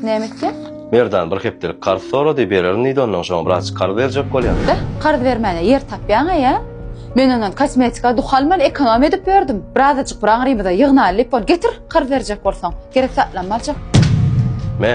Näme etýäň? Merdan bir hepdelik karz sorady, bererin diýdi, ondan soň wraç karz berjek bolýan. Beh, karz bermäne ýer tapýaň-a ýa? Men ondan kosmetika, duhan bilen ekonomiýa edip ýördüm. Birazajyk bir aňrymyza ýygnaýly diýip, ol getir, karz berjek bolsaň, gerek zatlarymy aljak. Me.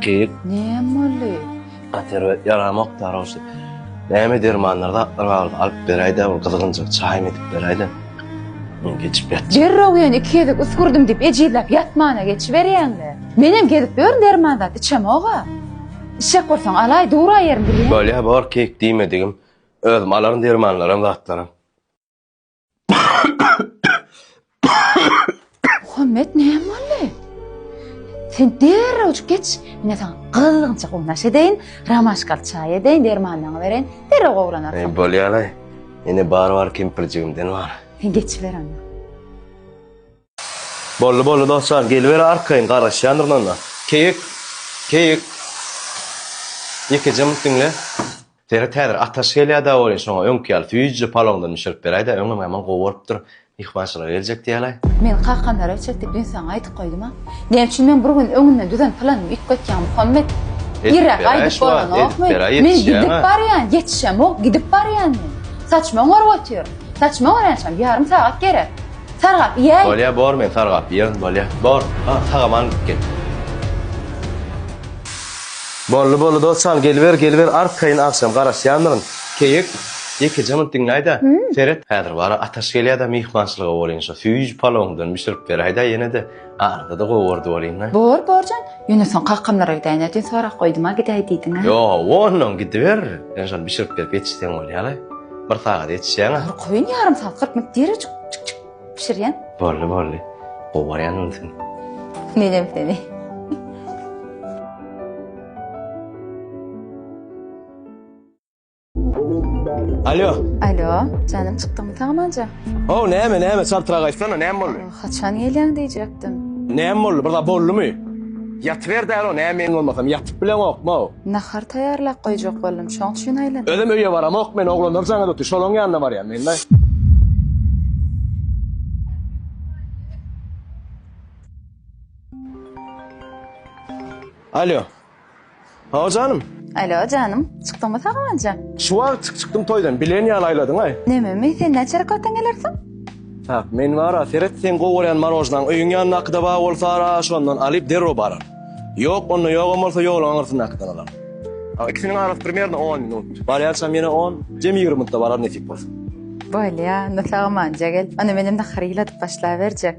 Kek. Näme boldy? Atyra yaramak tarafı. Näme dermanlarda atlar vardı. Alıp berayda o kızgınca çay mı edip berayda. Geçip yat. Derraw ýen iki gezek üsgürdim diýip ejizläp ýatmana geçiberýäňle. Menem gezip ýörün derman zat içemoga. Işek bolsaň alaý dura ýerim bilýän. Bolýa bor kek diýmedigim. Özüm alaryn dermanlarym zatlarym. Muhammet näme boldy? Sen derrewjik geç, men saňa gyzgynça gownaş edeýin, ramaşkal çaý edeýin, dermanlaryňy bereýin, derrew gowranarsyň. Eý, bolýar-aý. Ine, bar-bar kempirjigimden bar. Sen geçiber onda. Boldy, boldy, dostjan, geliber arkaýyn, garaşýandyryn onda. Keýik, keýik. Ýekeje munt diňle. Serhet häzir ataş gelýär-dä welin, şoňa öňki ýaly süýjüli palawndan bişirip beräý-dä, öňem hemen gowy bolupdyr, myhmançylara geljek diýälaý. Men Kakamlara çekdi, düýn saňa aýdyp goýdum-a. Näme üçin men bir gün öňünden düzen planym üýtgetýäň, Muhammet? Irräk aýdyp bolanokmy? Men gidip barýan, ýetişemok, gidip barýan men. Saçma oňaryp otur. Saçma oňarýançam, ýarym sagat gerek. Sargap iýäý. Bolýa, bor, men sargap iýerin, bolýa. Bor, ha, sag-aman gidip gel. Bolly bolly dosjan geliber geliber arkaýyn agşam garaşýandyryn keýik ýekeje munt diňläýdä seret häzir bara ataş gelýäda myhmançylyga bolýyn şo süýji palowyňdan bişirip beräýdä ýenede arzada gowardy bolýynda. Bor borjan ýöne soň kakamlara gidäýinä diýen sorag goýduma gidäý diýdiňä. Ýoga onnoň gidiber sen şony bişirip berip ýetişseň bolýaly bir sagada ýetişýäňä. Arkaýyn ýarym sagat kyrk minut dirižik. Pişirýän? Boldy, boldy. Gowarýan bolsun. Menem seni. Alo. Alo, janym çykdyňmy sagamanja? O, näme, näme, çaltrak aýtsana, näme boldy? Haçan gelýäň diýjekdim. Näme boldy, bir zat boldumy? Ýatyber däl o, näme meň bolmasam ýatyp bileňokma-ow. Nahar taýýarlap goýjak boldum, şoň üçin aýladym. Özem öýe baramok men, oglanlar jaňa dotdy, şolaň ýanyna barýan men-le. Alýo. Hawa janym. Alo janym, çykdyňmy saganja? Şu wagt çyk çykdym toýdan, bilen ýaly aýladyň-aý. Nememi, sen näçe rakatdan gelersiň? Tak, men bar-a, seret, seň gowy görýän marojnaň öýüň ýanyndakyda bar bolsa-a, şondan alyp derrew bararyn. Ýok, onda ýogam bolsa ýoluň aňyrsyndakydan alaryn. A, ikisiniň arasy primerne on minut. Barýançam ýene on, jemi ýigrimi minutda bararyn nesip bolsa. Bolýa, onda sagamanja gel. Onda menem nahary ýyladyp başlaberjek.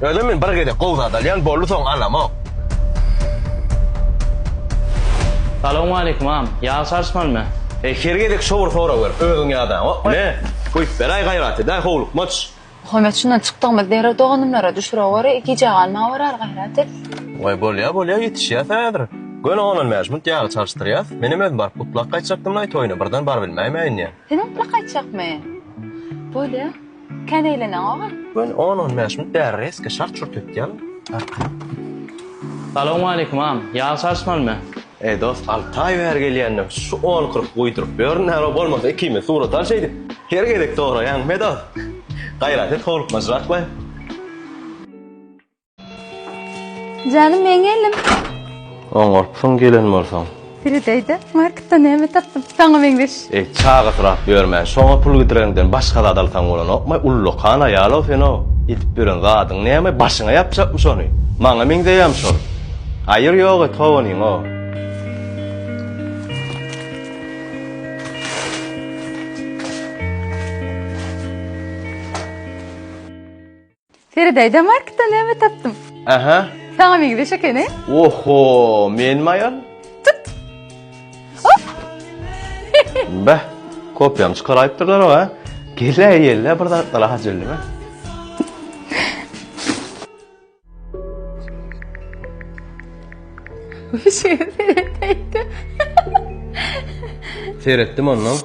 Özem men bir gezek gowy zat alýan boldy soň alamok. Salowmaleýkim agam. Ýag çalyşmalymy? Eý her gezek şo bir sorag berip özüň ýadaňok ne? Guýup beraý gaýrat edäý howlukmaç. Muhammet şundan çykdygymyz derrew doganymlara düşürewer gijä galma berar gaýrat et. Waý bolýa bolýa ýetişýäs häzir. Göni onan mäşmunt ýagy çalyşdyrýas. Menem özüm baryp gutlap gaýtjakdymlaý toýuna birden barybilmäýmäýin diýen. Senem gutlap gaýtjakmy? Bolýa. Kän eýleneň ogul. Göni on on bäş minut bäri reska şart şurt etýän arkaýyn. Salowmaleýkim agam, ýag çalyşmalymy? Eý dost alty aý bäri gelýändiň şu on kyrk guýduryp ýör näro bolmasa ikimiz surat al şeýdip her gezek soraýaň medost gaýrat et howlukmajyrak goý. Janym men geldim. Oňarpsyň gelen bolsaň. Firideyde marketden näme tapdym? Saňa meňzeş. Ey, çagysyrap ýörme. Şoňa pul gidireniňden başga zat alsaň bolanokmy? Ullakan aýal-ow sen-ow. Edip ýören zadyň näme? Başyňa ýapjakmy şony? Maňa meňzeýämi şol? Aýyr ýok et how onyň-ow. Seredäýdä marketden näme tapdym. Aha. Saňa meňzeş ekeni. Oho, menmi aýal? Tut. Hop. Beh, kopýam çykaraýypdyrlar oňa. Gele ýelle bir zatlar hajellime. Seretdim ondan.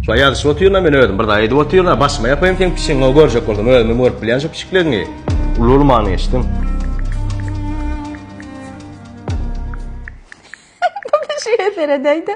Şo ýazyşyp otyryn-a men özüm, bir zat edip otyryn-a, başyma ýapaýyn seň pişigiňi, görjek bolsaň, özümem görüp bilýän şo pişikleňi. Uly-ulumany geçdim. Bu pişige seredäý-de.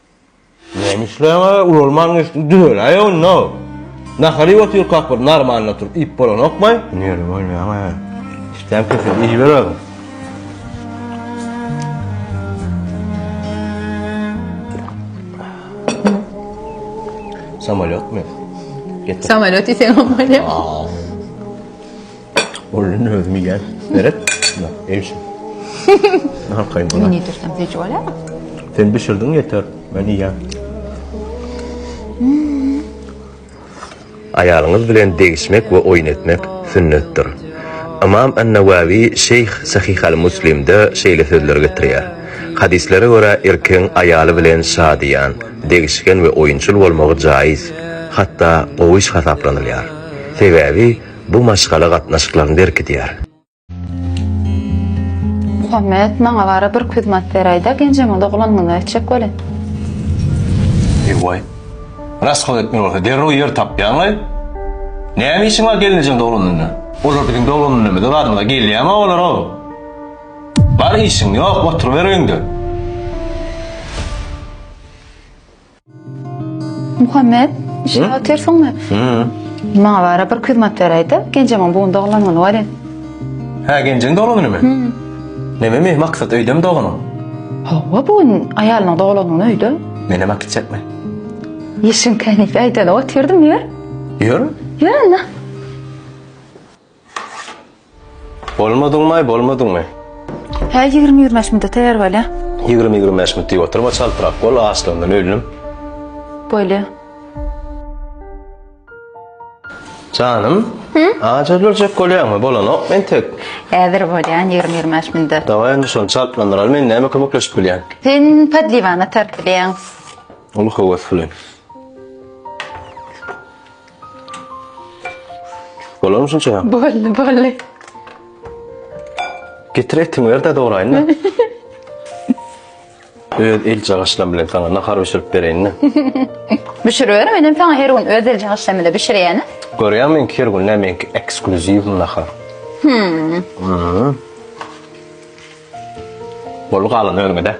Näme işleýäň aga, ulalman geçdim, düzeläýe onda. Nahar iýip otyrkak bir normalny oturyp iýip bolanokmy? Nirede bolýaň aga? Işdäm köşede iýiber aga. Samolyotmy? Samolyot iýseň bolýar. Bolun özüm iýýän. Beret. Eýşim. Nahar kaýyn bolar. Ne diýsem seç bolarmy? Sen bişirdiň ýeter. Men iýýän. Aýalyňyz bilen degişmek we oýun etmek sünnetdir. Ymam An-Nawawi Şeýh Sahih al-Muslimde şeýle sözleri getirýär. Hadyslere görä erkegiň aýaly bilen şadyýan, degişgen we oýunçyl bolmagy jaýyz, hatda gowyş hasaplanylýar. Sebäbi Bu maşgala gatnaşyklaryny berkidýär. Muhammet maňa bara bir küzmat beräýdä genjeňe doglanyňda etjek welin. Ewaý. Rasgala etmeli bolsa derrew ýer tapýaňlaý. Näme işiň bar gelnejeň doglanynda? Olar biziň doglanynymyza barymyza gelýämi olar-ow? Bar işiň ýok oturyber öýüňde. Muhammet, işe otyrsyňmy? Maňa bara bir kyzmat beräýde, Genjemiň bugun doglan güni welin. Hä, Genjiň doglan günümi? Näme mi, Maksat öýdemi doganyň? Hawa, bu gün aýalynyň doglan güni öýde. Menem akitjekmi? Işiň känipi, aýdanyp otyrdym, ýör. Ýör? Ýör onda. Bolmadyňmaý, bolmadyňmy? Hä, ýigrimi-ýigrimi-bäş minda taýýar bolýa. Ýigrimi-ýigrimi-bäş minut diýip oturma, çaltrak bol, açlygymdan öldim. Bolýa. Janym, aç öljek bolýaňmy? Bolanok entek. Häzir bolýan, ýigrimi-ýigrimi-bäş minda. Dawaý, onda şony çaltlandyraly, men näme kömekleşip bilýän? Sen podliwany atar bilýäň. Uly höwes bilen. Bolarmy şunça? Boldy, boldy. Getir etiňi ber de doğrayın da. Öz el çagaşlam bilen sana nahar pişirip bereyin de. Bişiriver, men hem sana her gün öz el çagaşlam bilen bişirýän. Görýän men her gün ne menki ekskluziv nahar. Hmm. Hmm. Bolu galan özüňe de.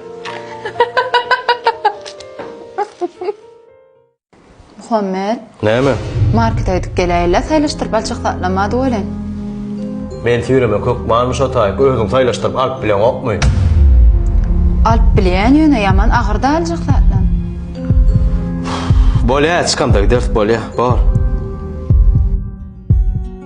Muhammet. Näme? Markete gidip geläýeli-ä saýlaşdyryp alçak zatlam bady welin. Men süýremek hökmanmy şo taýy özüň saýlaşdyryp alyp bileňokmy? Alyp bilýän ýöne ýaman agyr-da aljak zatlam. Bolýa çykamda gideris bolýa bor.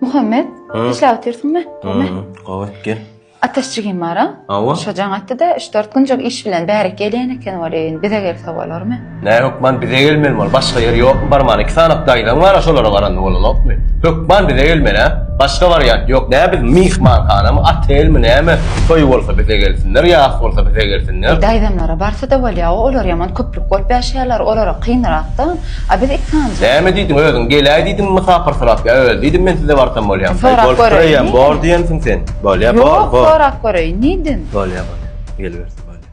Muhammet, işläp otyrsyňmy? Gowy. Gowy, gel. Ataş jigim bar-a? Hawa. Şo jaň atdy-da, üç-dört günjük iş bilen bärik gelýän eken weli, indi bize gelse bolarmy? Nä hökman bize gelmeli bol, başga ýer ýokmy barman, iki sany daýzaň bar-a, şolara baranda bolanokmy? Hökman bize gelmeli, hä? Başga wariant ýok, nä biz myhmanhanamy, otelmi, näme? Toý bolsa bize gelsinler, ýas bolsa bize gelsinler. Daýzamlara barsa-da bolýa-ow, olar ýaman köplük bolup ýaşaýarlar, olara kynrak-da. A biz it sanjak. Näme diýdiň özüň geläý diýdiňmi mysapyrsyrap ýa öl diýdim men size barsam bolýamy haý Sorap bolup göreýin bireýýäm bor diýensiň sen bolýa bor Ýok bor sorap göreýin niýdim. Bolýa bolýa gelibersin bolýa.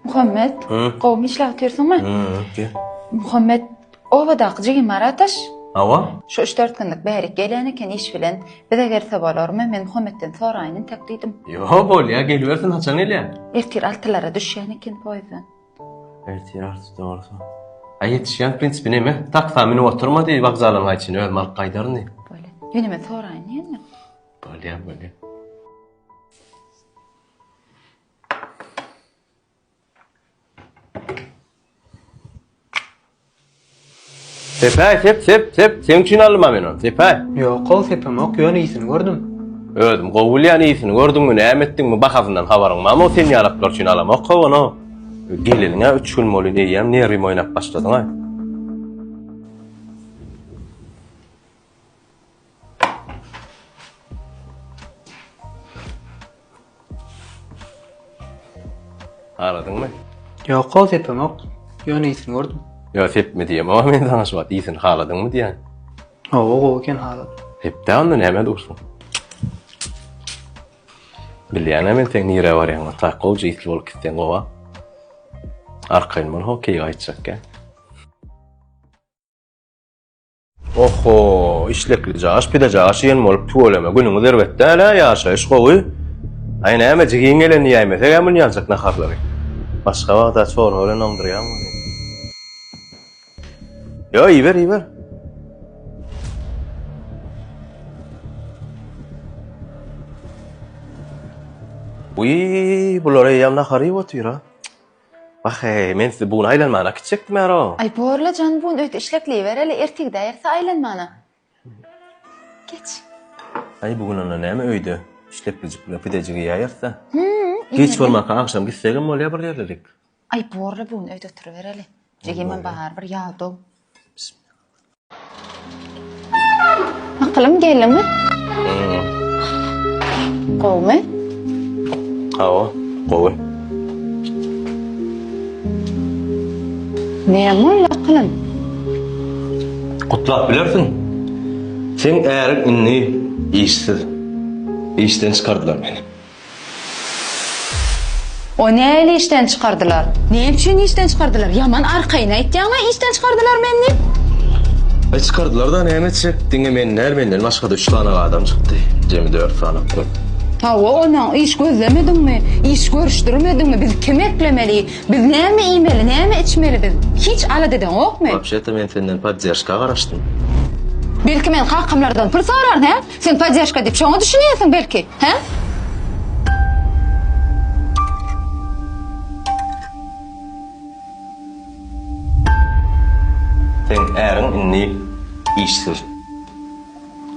Muhammet Hı. gowymy işläp otyrsyňmy Hı öpke. Muhammet obadaky jigim bar ataş. Hawa. Şu üç dört günlük bärik gelýän eken iş bilen bize gelse bolarmy men Muhammetden soraýyn entek diýdim. Ýo bolýa gelibersin haçan gelýä. Ertir altylara düşýän eken poýzdan. Ertir artiste bolsa. Aý ýetişýän prinsipi neme? Taksa münüp oturma diý wokzala gaý çyn özüm alyp gaýdaryn diý. Bolýa. Ýöne men soraýyn diý indi. Bolýa bolýa. Sepäý, sep, sep, sep, seň üçin aldym-a men ony, Sepäý. Ýok-ow, sepemok, ýöne ysyn gördüm. Özüm gowy bilýän, ysyn gördüňmi, näme etdiňmi, bahasyndan habaryň barmy-ow, sen ýalaklar üçin alamok-ow ony-ow. Geleniň-ä üç gün bolýyn, eýýäm nerwim oýnap başladyň-aý. Haladyňmy? Ýok, goh sepemok. Ýöne ýitini gördüm. Ýok, sepme diýemok, a men saňa şu wagt ýitini haladyňmy diýän. Hawa, gowy eken haladym. Sepde onda näme dursuň? Bilýän-ä men seň nirä barýaňy, tak gowja ýitli bolup gitseň gowa. Arkaýyn bol, hokeý gaýtjak eken. Ohho işlekli jaş pide jaş iyen bolup tüweleme günüňiz erbet däl a ýaşaýyş gowy. Aý näme jigiň gelen iýäýmesek a munýanjak naharlary. Başga wagta çorba bilen oňdurýan bolýa. Ýo iýiber iýiber. Wiý bular eýýäm nahar iýip otyr a. Wah-eý, men sizi bugün aýlanmana kitjekdim-ä-row! Aý, bor-la jan, bugün öýt işlekleýibereli, ertigidä erse aýlanmana. Geç. Aý, bugün onda näme öýde işleklijik bilen pidejik iýäýeris-dä. Hü-ü-ü, ine-de. Giç bolmanka agşam gitsegem bolýar bir ýerlilik. Aý, bor-la bugün öýt oturybereli. Jigimiň barybir ýadaw. Bismillah. Akylym gelimi? Gowmy? Hawa, gowy. Näme boldy akylym? Gutlap bilersiň. Seň äriň indi işsiz. Işden çykardylar meni. O näli işden çykardylar. Näme üçin işden çykardylar? Ýaman arkaýyn aýtýaňa işden çykardylar meni diýip. Aý çykardylarda näme etjek diňe men däl menden başgada üç sany adam çykdy jemi dört sany okap. Hawa onä iş gözlemediňmi iş görüşdirmediňmi biz kimi eklemeli biz näme iýmeli näme içmeli biz hiç alada edeňokmy. Wapşeta men senden podderşka garaşdym. Belki men kakamlardan pul soraryn hä? Sen podderžka diýip şoňa düşünýärsiň belki, hä? Seň äriň indi işsiz.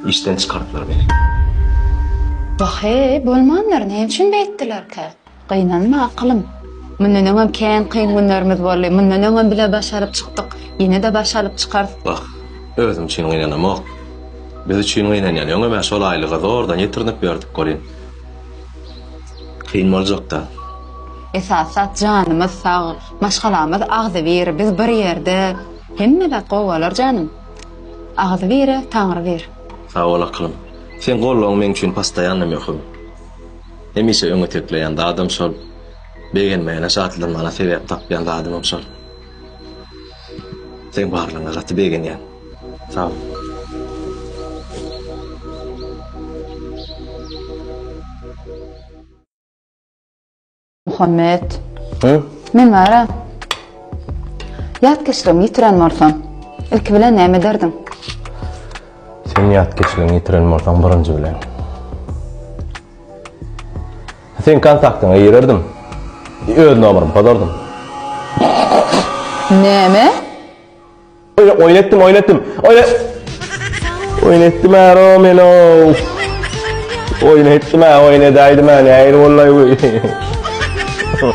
Işden çykardylar meni. Wah-eý, bolmandyr, näme üçin beýtdilerkä? Gynanma, akylym. Mundan öňem kän kyn günlerimiz boldy. Mundan öňem bile baş alyp çykdyk. Ýene-de baş alyp çykarys. Wah, özüm üçin gynanamok. Biz üçin gynanýan. Öňem-ä şol aýlygy zordan ýetirinip ýördük welin, kyn boljak-da. Esasy zat janymyz sag, maşgalamyz agzybir. Biz bir ýerde, hemme zat gowy bolar janym. Agzybire Taňry bir. Sag bol, akylym. Seň gollygyň meň üçin postoýanna möhüm. Hemişe öňe tekleýän zadym şol. Begenmäne şatlanmana sebäp tapýan zadymam şol. Seň barlygyňa gaty begenýän. Sag bol. Muhammet. Hä? Men bara. Ýatkeşligimi ýitiren bolsam, ilki bilen näme ederdiň? Sen ýat geçilen ýitiren bolsaň birinji bilen. Sen kontaktyňa girerdim. Öz nomerim pozardım. Näme? Oýa oýun etdim, oýun etdim. Oýa Oýun etdim ara men o. Oýun etdim, oýun edäýdim, näir bollaý bu.